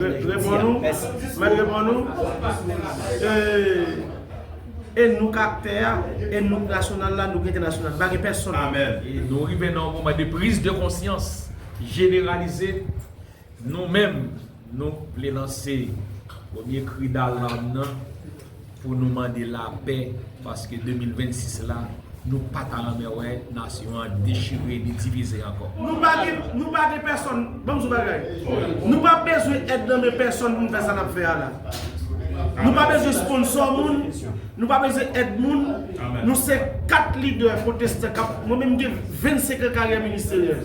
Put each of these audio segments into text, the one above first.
Mèt reponn ou, mèt reponn ou, ee, e nou kap tè a, e nou k nasyonal la, nou k entènasyonal, pa gen pèsonn. Amen. Nou rive nan yon moman de prise de konsyans jeneralize, nou menm nou vle lanse premye kri dalarm nan. Pou nou mande lapè paske 2026 la nou pa ta renmen wè nasyon an dechire ni divize ankò. Nou pa gen, nou pa gen pèsòn, banm di w bagay, nou pa bezwen èd nan men pèsòn pou nou fè sa n ap fè a la. Nou pa bezwen sponsò moun, nou pa bezwen èd moun, nou se 4 lidè pwotestan k ap, mwen menm m gen 25 an karyè ministeryèl.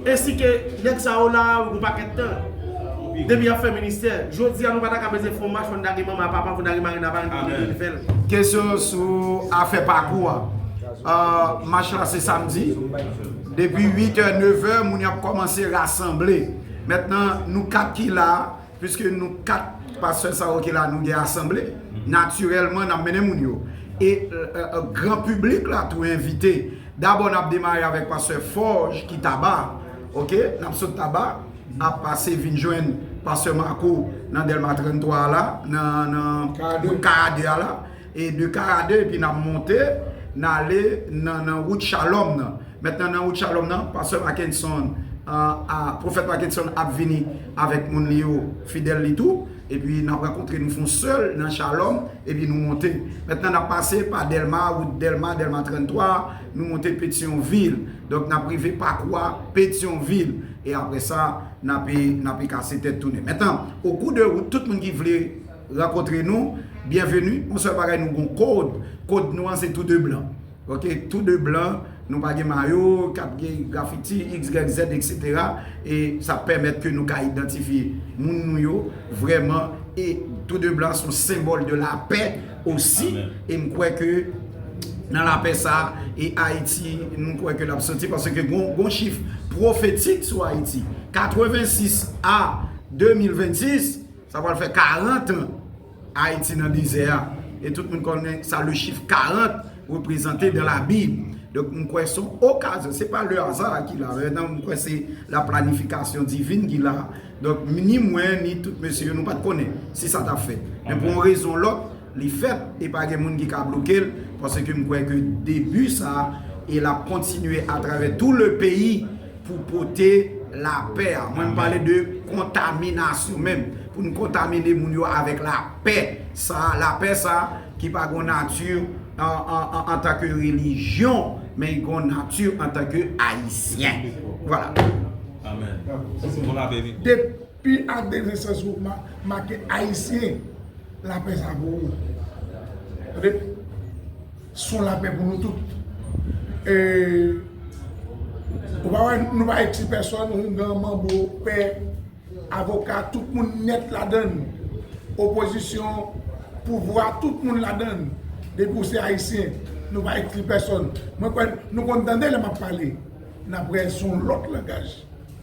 Ainsi que nèg sa yo la yon pakèt tan depi yap fè ministè. Jodi a nou pata ka bezwen fon mach fò n ta gen manman, papa, fò n ta gen mari nan aparèy pou n rive fè l. Kesyon sou afè pakou an. Mach la se samdi. Depi 8 è, 9 è, moun yo ap kòmanse rasanble. Mentnan nou 4 ki la a, Piske nou 4 pastè sa yo ki la nou gen asanble, natirèlman n ap mennen moun yo. E gran piblik la tou envite. Dabò n ap demare avèk pastè Forge ki Taba, ok, n ap sot Taba, n ap pase vin jwenn pastè Marco nan Dèlma 33 a la, nan K a 2 a la. E de Karadè epi n ap monte, n ale nan nan wout Chalòm nan. Mètnan nan wout Chalòm nan, pastè Makenson a, pwofèt Makenson ap vini avèk moun li yo, fidèl li tou, epi n ap rankontre, nou fè yon sèl nan Chalòm, epi nou monte. Mètnan n ap pase pa Dèlma, wout Dèlma, Dèlma 33 a, nou monte Petyonvil. Donk n ap rive pakou a Petyonvil. E aprè sa, n ape, n ape kase tèt tounen. Mètnan, okou de wout, tout moun ki vle. Rankontre nou, byenveni, yon sèl bagay nou gon kod, kod nou an se tou de blan. Ok, tou de blan, nou pa gen mayo, kap gen grafiti, xyz, etc. E sa pèmèt ke nou ka idantifye moun nou yo vrèman e tou de blan son senbòl de lapè osi e m kwè ke nan lapè sa e Ayiti nou kwè ke lap soti paske gon chif pwofetik sou Ayiti 86 a 2026. Sa pral fè 40 an Ayiti nan dezè a. E tout moun konnen sa le chif 40 reprezante dan la bib. Donk m kwè son okazyon. Se pa le aza a ki la. Nan m kwè se la planifikasyon divin ki la. Donk ni mwen ni tout mesye yo nou pat konnen si sa tap fèt. Men pou yon rezon lòt. Li fèt e pa gen moun ki ka bloke l paske m kwè ke debi sa e l ap kontinye atravè tou le peyi pou pote lapè a. Mwen m pale de kontaminasyon menm. Pou n kontamine moun yo avèk lapè sa, lapè sa ki pa gon nati antanke relijyon men li gon nati antanke Ayisyen. Vwala. Amen. Depi. Pi a de Vincent Zouma make Ayisyen lapè sa pou ou Tande son lapè pou nou tout E ou pa wè nou pa ekskli pèsòn houngan manbo pè avoka tout moun nèt ladann opozisyon pouvwa tout moun ladann depi ou se Ayisyen nou pa ekskli pèsòn mwen kwè nou konn tande lè map pale nan prè son lòt langaj.